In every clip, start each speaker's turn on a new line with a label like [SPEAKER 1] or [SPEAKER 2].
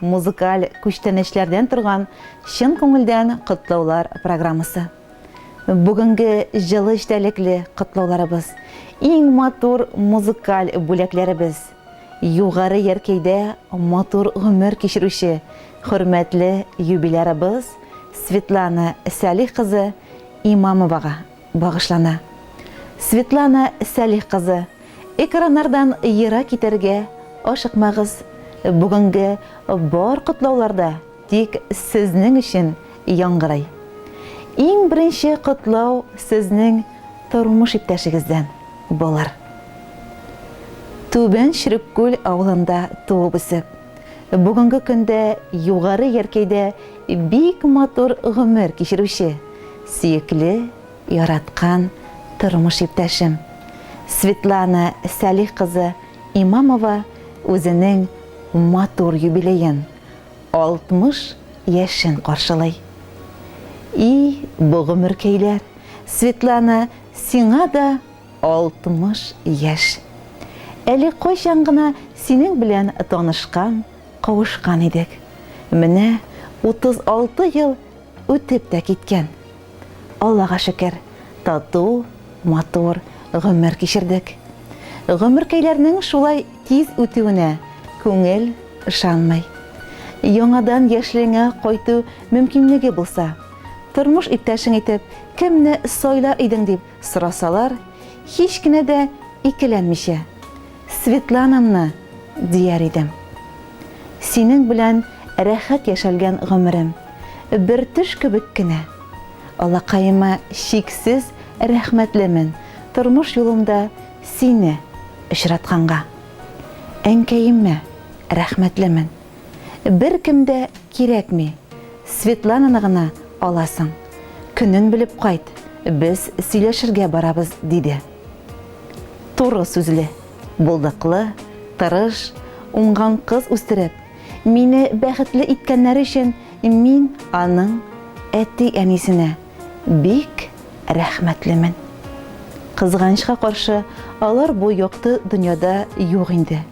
[SPEAKER 1] музыкаль күчтәнәчләрдән торган чын күңелдән котлаулар программасы. Бүгенге җылы эчтәлекле котлауларыбыз, иң матур музыкаль бүләкләребез Югары Яркәйдә матур гомер кичерүче хөрмәтле юбилярыбыз Светлана Сәлих кызы Имамовага. багышлана. Светлана Сәлих кызы, экраннардан ерак китәргә ашыкмагыз, бүгенге бар котлаулар да тик сезнең өчен яңгырый. Иң беренче котлау сезнең тормыш иптәшегездән булыр. Түбән Чөреккүл авылында туып үсеп. Бүгенге көндә Югары Яркәйдә бик матур гомер кичерүче, сөекле, яраткан тормыш иптәшем Светлана Сәлих кызы Имамова үзенең матур юбилеен, 60 яшен каршылый. И, бу гомеркәйләр, Светлана, сиңа да 60 яшь. Әле кайчан гына синең белән танышкан, кавышкан идек. Менә 36 ел үтеп тә киткән. Аллага шөкер, тату, матур гомер кичердек. Гомеркәйләрнең шулай тиз үтүенә күңел ышанмый. Яңадан яшьлегеңә кайту мөмкинлеге булса, тормыш иптәшең итеп кемне сайла идең дип Сорасалар, һич кенә дә икеләнмичә, Светланамны дияр идем. Синең белән рәхәт яшәлгән гомерем бер төш кебек кенә. Алакаема чиксез рәхмәтлемен тормыш юлымда сине очратканга. Әнкәемә рәхмәтлемен. Беркем дә кирәкми, Светлананы гына аласың. Көнен белеп кайт, без сөйләшергә барабыз, диде. Туры сүзле, булдыклы, тырыш, уңган кыз үстереп, мине бәхетле иткәннәре өчен мин аның әти-әнисенә бик рәхмәтлемен. Кызганычка каршы, алар бу якты дөньяда юк инде.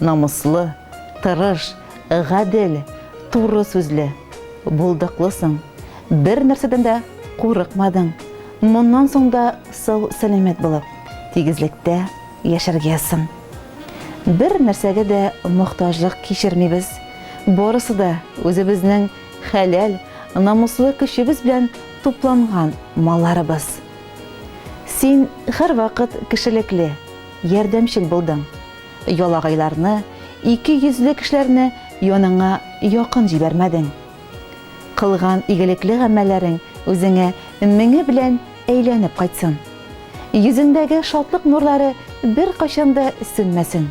[SPEAKER 1] Намуслы, тырыш, гадел, туры сүзле, булдыклысың. Бер нәрсәдән дә курыкмадың. Моннан соң да сау-сәламәт булып, тигезлектә яшәргәсең. Бер нәрсәгә дә мохтаҗлык кичермибез. Барысы да үзебезнең хәләл, намуслы көчебез белән тупланган малларыбыз. Син һәрвакыт кешелекле, ярдәмчел булдың. Ялагайларны, ике йөзле кешеләрне яныңа якын җибәрмәдең. Кылган игелекле гамәлләрең үзеңә меңе белән әйләнеп кайтсын. Йөзеңдәге шатлык нурлары беркайчан да сүнмәсен.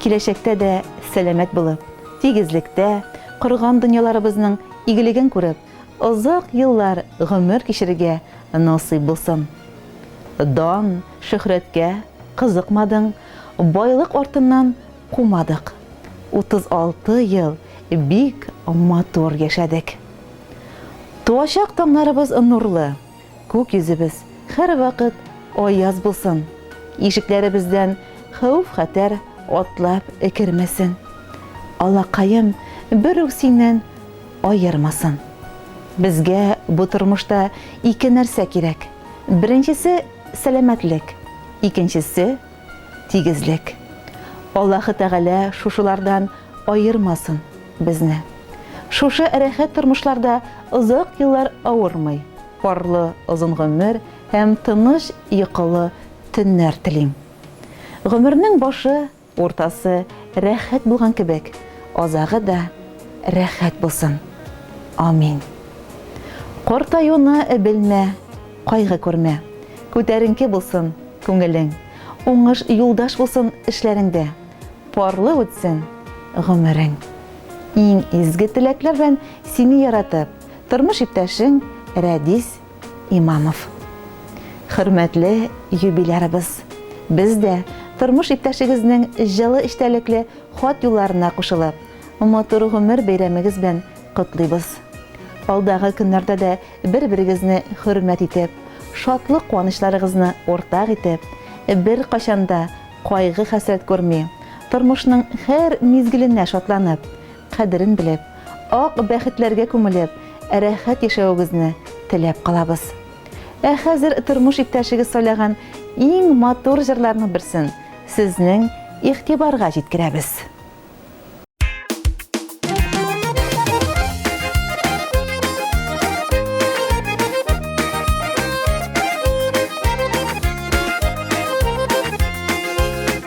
[SPEAKER 1] Киләчәктә дә сәламәт булып, тигезлектә, корган дөньяларыбызның игелеген күреп, озак еллар гомер кичерергә насыйп булсын. Дан, шөһрәткә кызыкмадың. Байлык артыннан кумадык. 36 ел бик матур яшәдек. Туачак таңнарыбыз нурлы, күк йөзебез һәрвакыт аяз булсын, ишекләребездән хәвеф-хәтәр атлап кермәсен, Аллакаем бер үк синнән аермасын. Безгә бу тормышта ике нәрсә кирәк, беренчесе, сәламәтлек, Икенчесе, тигезлек. Аллаһы Тәгалә шушылардан аермасын безне. Шушы рәхәт тормышларда озак еллар авырмый, парлы озын гомер һәм тыныч йокылы төннәр телим. Гомернең башы Уртасы рәхәт булган кебек, азагы да рәхәт булсын. Амин. Картаюны белмә, кайгы күрмә. Күтәренке булсын күңелең. Уңыш юлдаш булсын эшләреңдә. Парлы үтсен гомерең. Иң изге теләкләр белән сине яратып, тормыш иптәшең Рәдис Имамов. Хөрмәтле юбилярыбыз! Без дә, тормыш иптәшегезнең җылы эчтәлекле хат юлларына кушылып, матур гомер бәйрәмегез белән котлыйбыз. Алдагы көннәрдә дә бер-берегезне хөрмәт итеп, шатлык-куанычларыгызны уртак итеп, беркайчан да кайгы-хәсрәт күрми, тормышның һәр мизгеленә шатланып, кадерен белеп, ак бәхетләргә күмелеп, рәхәт яшәвегезне теләп калабыз. Ә хәзер тормыш иптәшегез сайлаган иң матур җырларның берсен сезнең игътибарга җиткерәбез.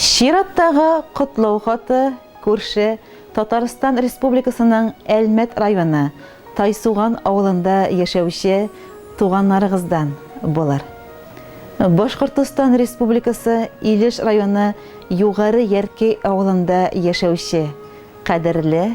[SPEAKER 1] Чираттагы котлау хаты күрше Татарстан Республикасының Әлмәт районы Тайсуган авылында яшәүче туганнарыгыздан булыр. Башкортостан Республикасы Илеш районы Югары Яркей авылында яшәүче кадерле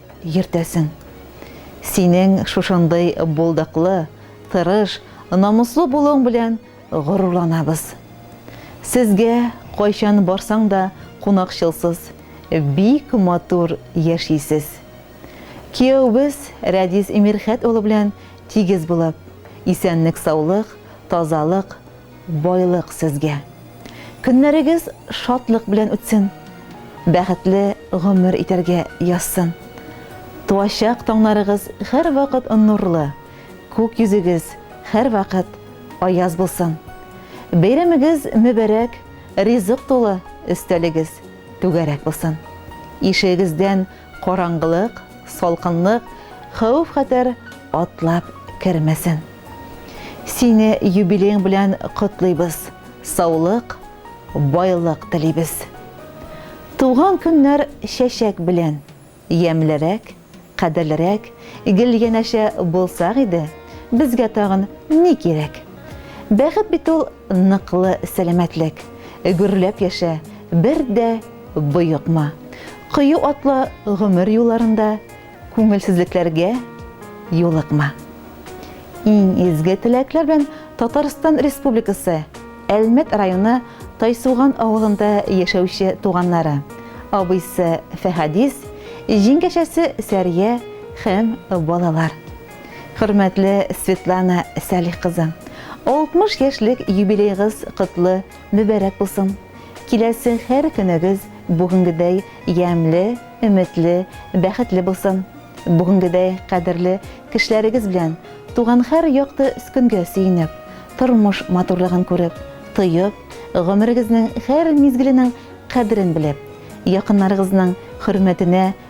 [SPEAKER 1] Йөртәсең. Синең шушындый булдыклы, тырыш, намуслы булуың белән горурланабыз. Сезгә кайчан барсаң да кунакчылсыз, бик матур яшисез. Кияүбез Рәдис Мирхәт улы белән тигез булып, исәнлек-саулык, тазалык, Байлык сезгә. Көннәрегез шатлык белән үтсен. Бәхетле гомер итәргә язсын. Туачак таңнарыгыз һәрвакыт нурлы, күк йөзегез һәрвакыт аяз булсын. Бәйрәмегез мөбарәк, ризык тулы өстәлегез түгәрәк булсын. Ишегегездән Караңгылык, салкынлык, хәвеф-хәтәр атлап кермәсен. Сине юбилеең белән котлыйбыз, саулык, байлык телибез. Туган көннәр чәчәк белән ямьлерәк, кадерлерәк, гел янәшә булсак иде, безгә тагын ни кирәк? Бәхет бит ул Ныклы сәламәтлек, гөрләп яшә, бер дә боекма. Кыю атлы гомер юлларында күңелсезлекләргә юлыкма. Иң изге теләкләр белән Татарстан Республикасы Әлмәт районы Тайсуган авылында яшәүче туганнары, абыйсы Фәхәдис, җиңгәчәсе Сәрия һәм балалар. Хөрмәтле Светлана Сәлих кызы, 60 яшьлек юбилейгыз котлы, мөбәрәк булсын. Киләсе һәр көнегез бүгенгедәй ямьле, өметле, бәхетле булсын. Бүгенгедәй кадерле кешеләрегез белән туган һәр якты скөнгә сөенеп, тормыш матурлыгын күреп, тоеп, гомерегезнең һәр мизгеленең кадерен белеп, якыннарыгызның хөрмәтенә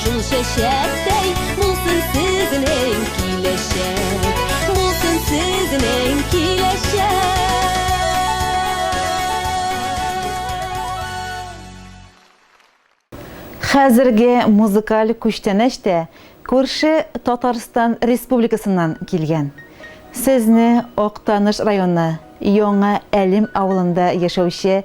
[SPEAKER 2] Шул чәчәктәй булсын сезнең киләчәк, булсын сезнең киләчәк.
[SPEAKER 1] Хәзерге музыкаль күчтәнәч тә күрше Татарстан Республикасыннан килгән. Сезне Актаныш районы Яңа Әлем авылында яшәүче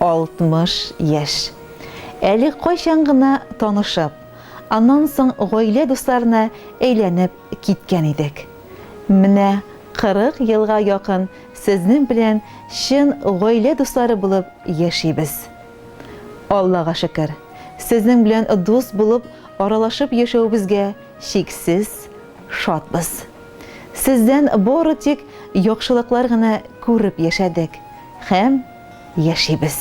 [SPEAKER 1] 60 яшь. Әле кайчан гына танышып, аннан соң гаилә дусларына әйләнеп киткән идек. Менә 40 елга якын сезнең белән чын гаилә дуслары булып яшибез. Аллага шөкер, сезнең белән дус булып аралашып яшәвебезгә чиксез шатбыз. Сездән бары тик яхшылыклар гына күреп яшәдек һәм. яшибез.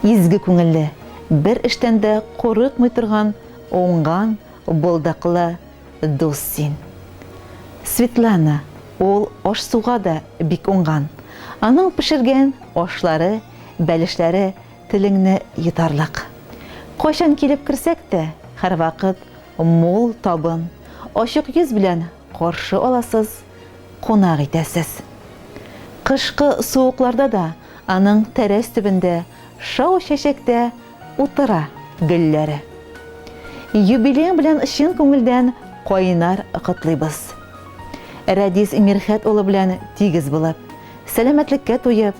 [SPEAKER 1] Изге күңелле, бер эштән дә курыкмый торган уңган, булдыклы дус син. Светлана, ул аш-суга да бик уңган. Аның пешергән ашлары, бәлешләре телеңне йотарлык. Кайчан килеп керсәк тә, һәрвакыт мул табын, ачык йөз белән Каршы аласыз, кунак итәсез. Кышкы суыкларда да аның тәрәз төбендә шау чәчәктә утыра гөлләре. Юбилеең белән чын күңелдән кайнар котлыйбыз. Рәдис Мирхәт улы белән тигез булып, сәламәтлеккә туеп,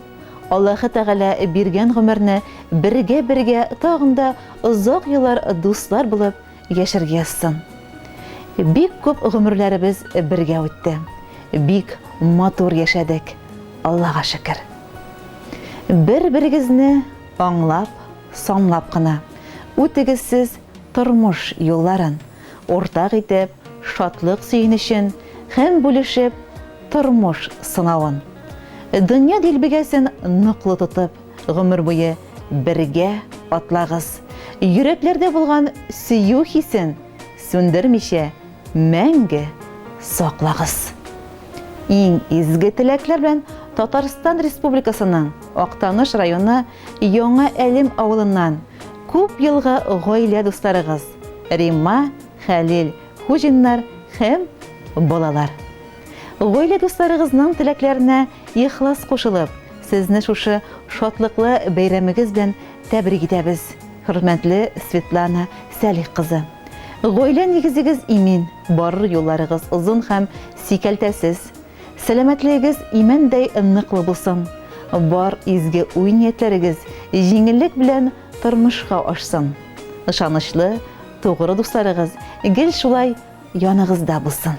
[SPEAKER 1] Аллаһы Тәгалә биргән гомерне бергә-бергә тагын да озак еллар дуслар булып Яшәргә язсын. Бик күп гомерләребез бергә үтте. Бик матур яшәдек, Аллага шөкер. Бер-берегезне аңлап, санлап кына үтегез сез тормыш юлларын, уртак итеп шатлык сөенечен һәм бүлешеп тормыш сынавын. Дөнья дилбегәсен ныклы тотып, Гомер буе бергә атлагыз. Йөрәкләрдә булган сөю хисен сүндермичә мәңге саклагыз. Иң изге теләкләр белән Татарстан Республикасының Актаныш районы Яңа Әлем авылыннан күп елгы гаилә дусларыгыз Римма, Хәлил Хуҗиннар һәм балалар. Гаилә дусларыгызның теләкләренә ихлас кушылып, сезне шушы шатлыклы бәйрәмегез белән тәбрик итәбез, хөрмәтле Светлана Сәлих кызы! Гаилә нигезегез имин, барыр юлларыгыз озын һәм сикәлтәсез, сәламәтлегегез имәндәй ныклы булсын, бар изге уй-ниятләрегез җиңеллек белән тормышка ашсын! Ышанычлы, тугры дусларыгыз гел шулай яныгызда булсын!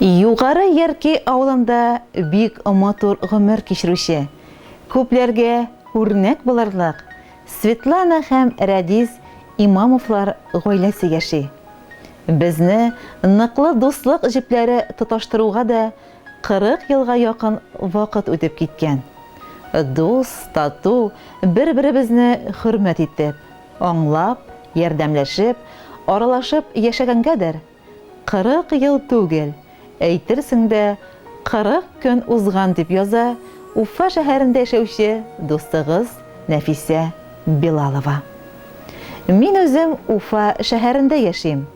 [SPEAKER 1] Югары Ярки авылында бик матур гомер кичерүче, күпләргә үрнәк булырлык Светлана һәм Рәдис Имамовлар гаиләсе яши. Безне ныклы дуслык җепләре тоташтыруга да 40 елга якын вакыт үтеп киткән. Дус, тату, бер-беребезне хөрмәт итеп, Аңлап, ярдәмләшеп, аралашып яшәгәнгәдер, кырык ел түгел, әйтерсең дә, кырык көн узган, дип яза Уфа шәһәрендә яшәүче дустыгыз Нәфисә Билалова. Мин үзем Уфа шәһәрендә яшим.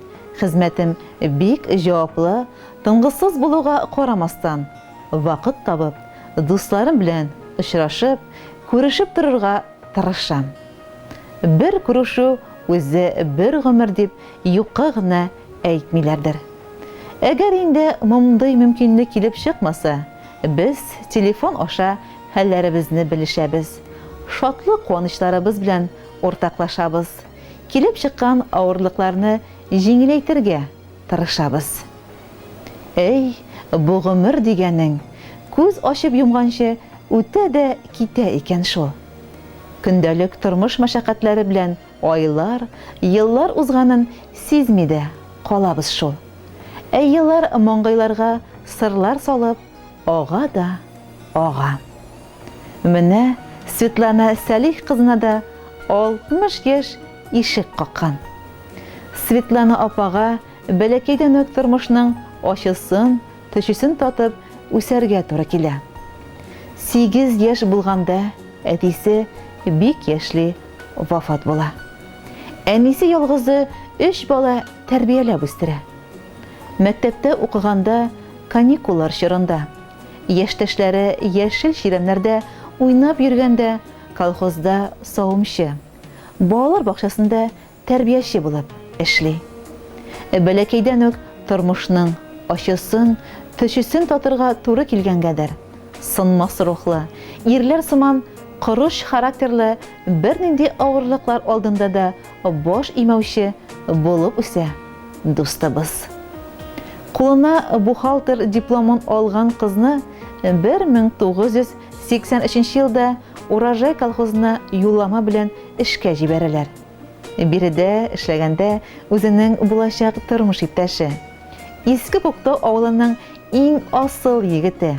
[SPEAKER 1] Хезмәтем бик җаваплы, тынгысыз булуга карамастан, вакыт табып, дусларым белән очрашып, күрешеп торырга тырышам. Бер күрешү үзе бер гомер дип юкка гына әйтмиләрдер. Әгәр инде мондый мөмкинлек килеп чыкмаса, без телефон аша хәлләребезне белешәбез, шатлык-куанычларыбыз белән уртаклашабыз, килеп чыккан авырлыкларны җиңеләйтергә тырышабыз. Әй, бу гомер дигәнең күз ачып йомганчы үтә дә китә икән шул. Көндәлек тормыш мәшәкатьләре белән айлар, еллар узганын сизми дә калабыз шул. Ә еллар маңгайларга сырлар салып, Ага да ага. Менә Светлана Сәлих кызына да 60 яшь ишек каккан. Светлана апага бәләкәйдән үк тормышның ачысын, төчесен татып үсәргә туры килә. Сигез яшь булганда әтисе бик яшьли вафат була. Әнисе ялгызы өч бала тәрбияләп үстерә. Мәктәптә укыганда, каникуллар чорында, яшьтәшләре яшел чирәмнәрдә уйнап йөргәндә, колхозда савымчы, балалар бакчасында тәрбияче булып эшли. Бәләкәйдән үк тормышның ачысын, төчесен татырга туры килгәнгәдер, сынмас рухлы, ирләр сыман корыч характерлы бернинди авырлыклар алдында да баш имәүче булып үсә дустыбыз. Кулына бухгалтер дипломын алган кызны 1983 елда Урожай колхозына юллама белән эшкә җибәрәләр. Биредә эшләгәндә үзенең булачак тормыш иптәше, Иске Күктау авылының иң асыл егете,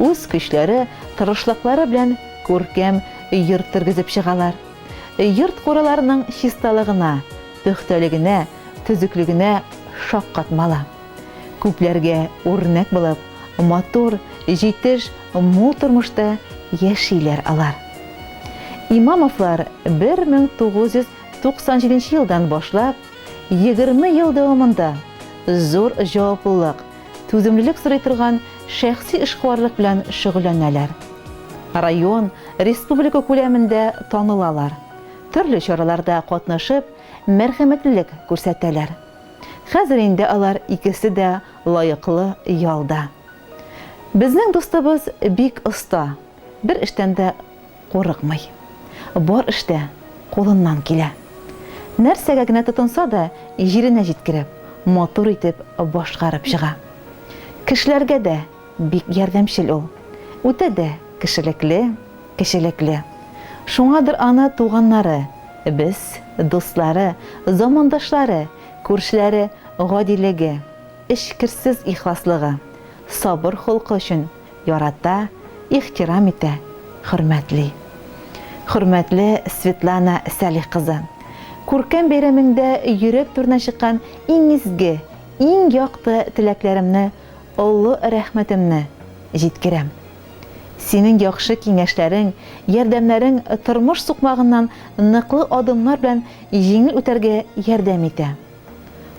[SPEAKER 1] Үз көчләре, тырышлыклары белән күркәм йорт тергезеп чыгалар. Йорт-кураларының чисталыгына, пөхтәлегенә, төзеклегенә шаккатмала. Күпләргә үрнәк булып, матур, җитеш, мул тормышта яшиләр алар. Имамовлар 1997 елдан башлап, егерме ел дәвамында зур җаваплылык, түземлелек сорый торган шәхси эшкуарлык белән шөгыльләнәләр. Район, республика күләмендә танылалар, төрле чараларда катнашып, мәрхәмәтлелек күрсәтәләр. Хәзер инде алар икесе дә лаеклы ялда. Безнең дустыбыз бик оста, бер эштән дә Курыкмый. Бар эштә кулыннан килә. Нәрсәгә генә тотынса да, җиренә җиткереп, матур итеп башкарып чыга. Кешеләргә дә бик ярдәмчел ул. Үтә дә кешелекле, кечелекле. Шуңадыр аны туганнары, без, дуслары, замандашлары, күршеләре гадилеге, эчкерсез ихласлыгы, сабыр холкы өчен ярата, ихтирам итә, хөрмәтли. Хөрмәтле Светлана Сәлих кызы! Күркәм бәйрәмеңдә йөрәк түренә чыккан иң изге, иң якты теләкләремне, олы рәхмәтемне җиткерәм. Синең яхшы киңәшләрең, ярдәмнәрең тормыш сукмагыннан ныклы адымнар белән җиңел үтәргә ярдәм итә.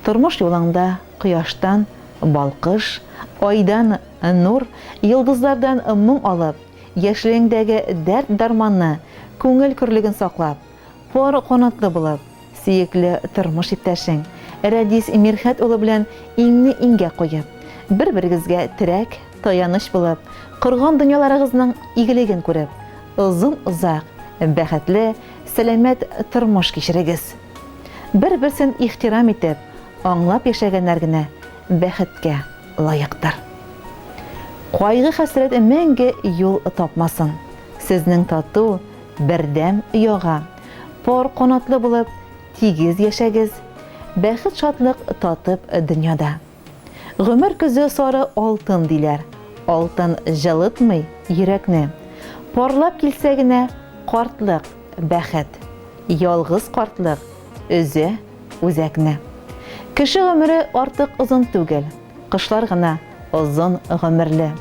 [SPEAKER 1] Тормыш юлыңда кояштан балкыш, айдан нур, йолдызлардан моң алып, яшьлегеңдәге дәрт-дарманны, күңел көрлеген саклап, пар канатлы булып, сөекле тормыш иптәшең Рәдис Мирхәт улы белән иңне-иңгә куеп, бер-берегезгә терәк, таяныч булып, корган дөньяларыгызның игелеген күреп, озын-озак, бәхетле, сәламәт тормыш кичерегез! Бер-берсен ихтирам итеп, аңлап яшәгәннәр генә бәхеткә лаектыр. Кайгы-хәсрәт мәңге юл тапмасын, сезнең тату, бердәм ояга пар канатлы булып, тигез яшәгез, бәхет-шатлык татып дөньяда. Гомер көзе сары алтын диләр. Алтын җылытмый йөрәкне. Парлап килсә генә картлык, бәхет. Ялгыз картлык өзә үзәкне. Кеше гомере артык озын түгел. Кошлар гына озын гомерле.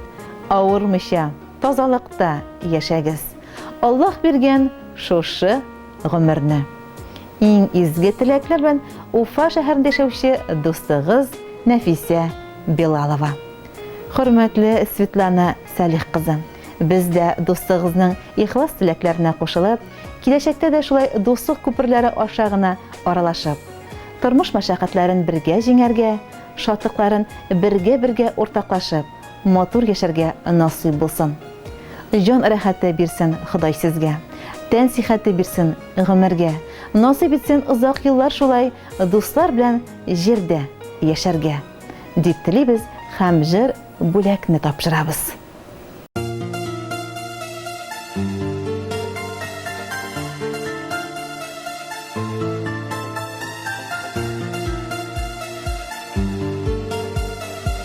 [SPEAKER 1] Авырмыйча, тазалыкта яшәгез. Аллаһ биргән шушы. гомерне. Иң изге теләкләрмен Уфа шәһәрендә яшәүче дустыгыз Нәфисә Билалова. Хөрмәтле Светлана Салих кызы, без дә дустыгызның ихлас теләкләренә кушылып, киләчәктә дә шулай дуслык күперләре аша гына аралашып, тормыш мәшәкатьләрен бергә җиңәргә, шатлыкларын бергә-бергә уртаклашып, матур яшәргә насыйп булсын. Җан рәхәте бирсен Ходай сезгә, тән сихәте бирсен гомергә, насыйп итсен озак еллар шулай дуслар белән җирдә яшәргә, дип телибез һәм җыр бүләкне тапшырабыз.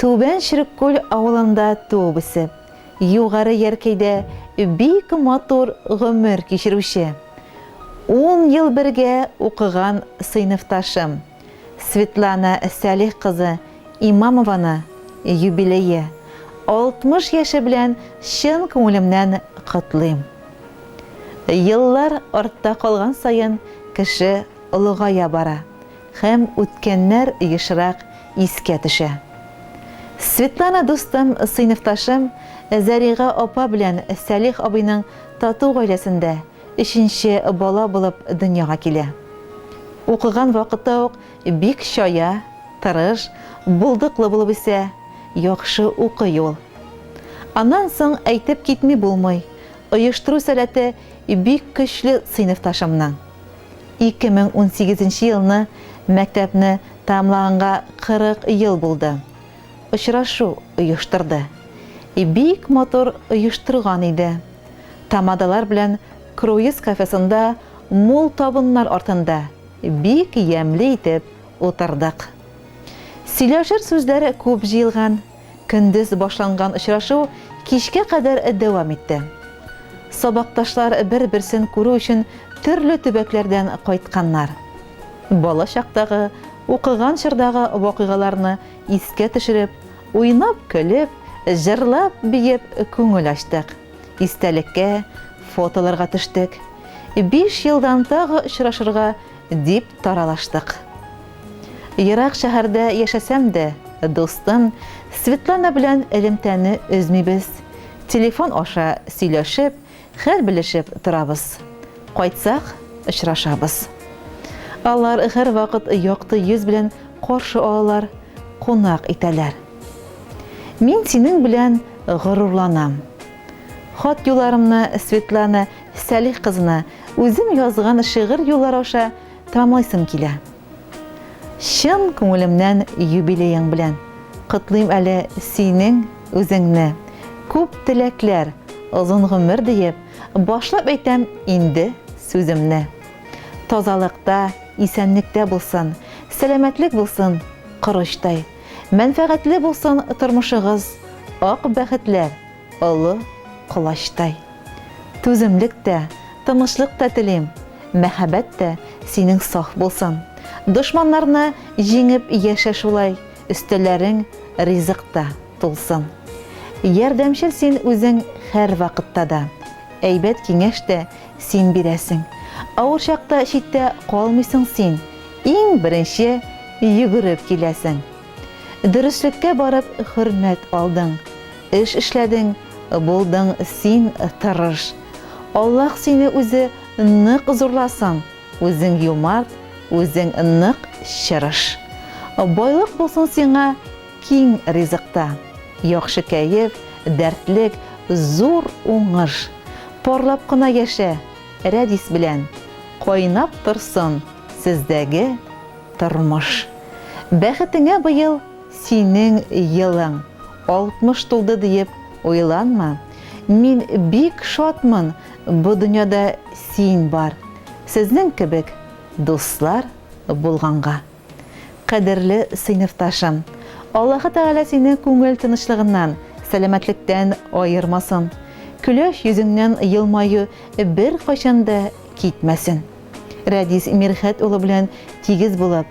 [SPEAKER 1] Түбән Череккүл авылында туып-үсеп, Югары Яркәйдә бик матур гомер кичерүче, ун ел бергә укыган сыйныфташым Светлана Сәлих кызы Имамованы юбилее, 60 яше белән чын күңелемнән котлыйм. Еллар артта калган саен кеше олыгая бара. Һәм үткәннәр ешрак искә төшә. Светлана дустым, сыйныфташым, Зәрига апа белән Сәлих абыйның тату гаиләсендә өченче бала булып дөньяга килә. Укыган вакыты ук бик чая, тырыш, булдыклы булып үсә, яхшы укый ул. Аннан соң әйтеп китми булмый, оештыру сәләте бик көчле сыйныфташымның. 2018 нче елны мәктәпне тәмамлаганга 40 ел булды. Очрашу оештырды. Бик матур оештырган иде. Тамадалар белән круиз кафесында мул табыннар артында бик ямьле итеп утырдык. Сөйләшер сүзләр күп җыелган. Көндез башланган очрашу кичкә кадәр дәвам итте. Сабакташлар бер-берсен күрү өчен төрле төбәкләрдән кайтканнар. Бала чактагы, укыган чордагы вакыйгаларны искә төшереп, уйнап-көлеп, җырлап-биеп күңел ачтык, истәлеккә, фотоларга төштек. Биш елдан тагы очрашырга Дип таралаштык. Ерак шәһәрдә яшәсәм дә, дустым Светлана белән элемтәне өзмибез, телефон аша сөйләшеп, хәл белешеп торабыз. Кайтсак, очрашабыз. Алар һәрвакыт якты йөз белән каршы алалар, кунак итәләр. Мин синең белән горурланам. Хат юларымны Светлана Сәлих кызына үзем язган шигырь юллары аша тәмамлыйсым килә. Чын күңелемнән юбилеең белән котлыйм әле синең үзеңне. Күп теләкләр, озын гомер диеп, башлап әйтәм инде сүземне. Тазалыкта, исәнлектә булсын, сәламәтлек булсын корычтай. Мәнфәгатьле булсын тормышыгыз, ак бәхетләр! Олы колачтай. Түземлек тә, тынычлык та телим, мәхәббәт тә синең саф булсын. Дошманнарны җиңеп яшә шулай, өстәлләрең ризык та тулсын. Ярдәмчел син үзең һәрвакытта да, әйбәт киңәш тә син бирәсең. Авыр чакта читтә калмыйсың син, иң беренче йөгереп киләсең. Дөреслеккә барып хөрмәт алдың. Эш эшләдең, булдың син тырыш. Аллаһ сине үзе нык зурласын, үзең юмарт, үзең нык чырыш. Байлык булсын сиңа киң ризыкта, яхшы кәеф, дәртлек, зур уңыш. Парлап кына яшә, Рәдис белән, кайнап торсын сездәге тормыш. Бәхетеңә быел Синең елың 60 тулды диеп уйланма, мин бик шатмын бу дөньяда син бар, сезнең кебек дуслар булганга. Кадерле сыйныфташым, Аллаһы Тәгалә сине күңел тынычлыгыннан, сәламәтлектән аермасын, көләч йөзеңнән елмаю беркайчан да китмәсен. Рәдис Мирхәт улы белән тигез булып,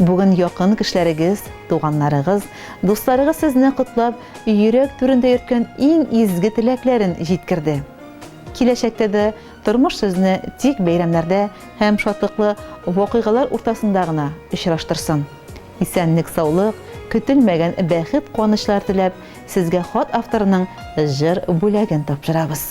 [SPEAKER 1] Бүген якын кешеләрегез, туганнарыгыз, дусларыгыз сезне котлап, йөрәк түрендә йөрткән иң изге теләкләрен җиткерде. Киләчәктә дә тормыш сезне тик бәйрәмнәрдә һәм шатлыклы вакыйгалар уртасында гына очраштырсын. Исәнлек-саулык, көтелмәгән бәхет-куанычлар теләп, сезгә хат авторының җыр бүләген тапшырабыз.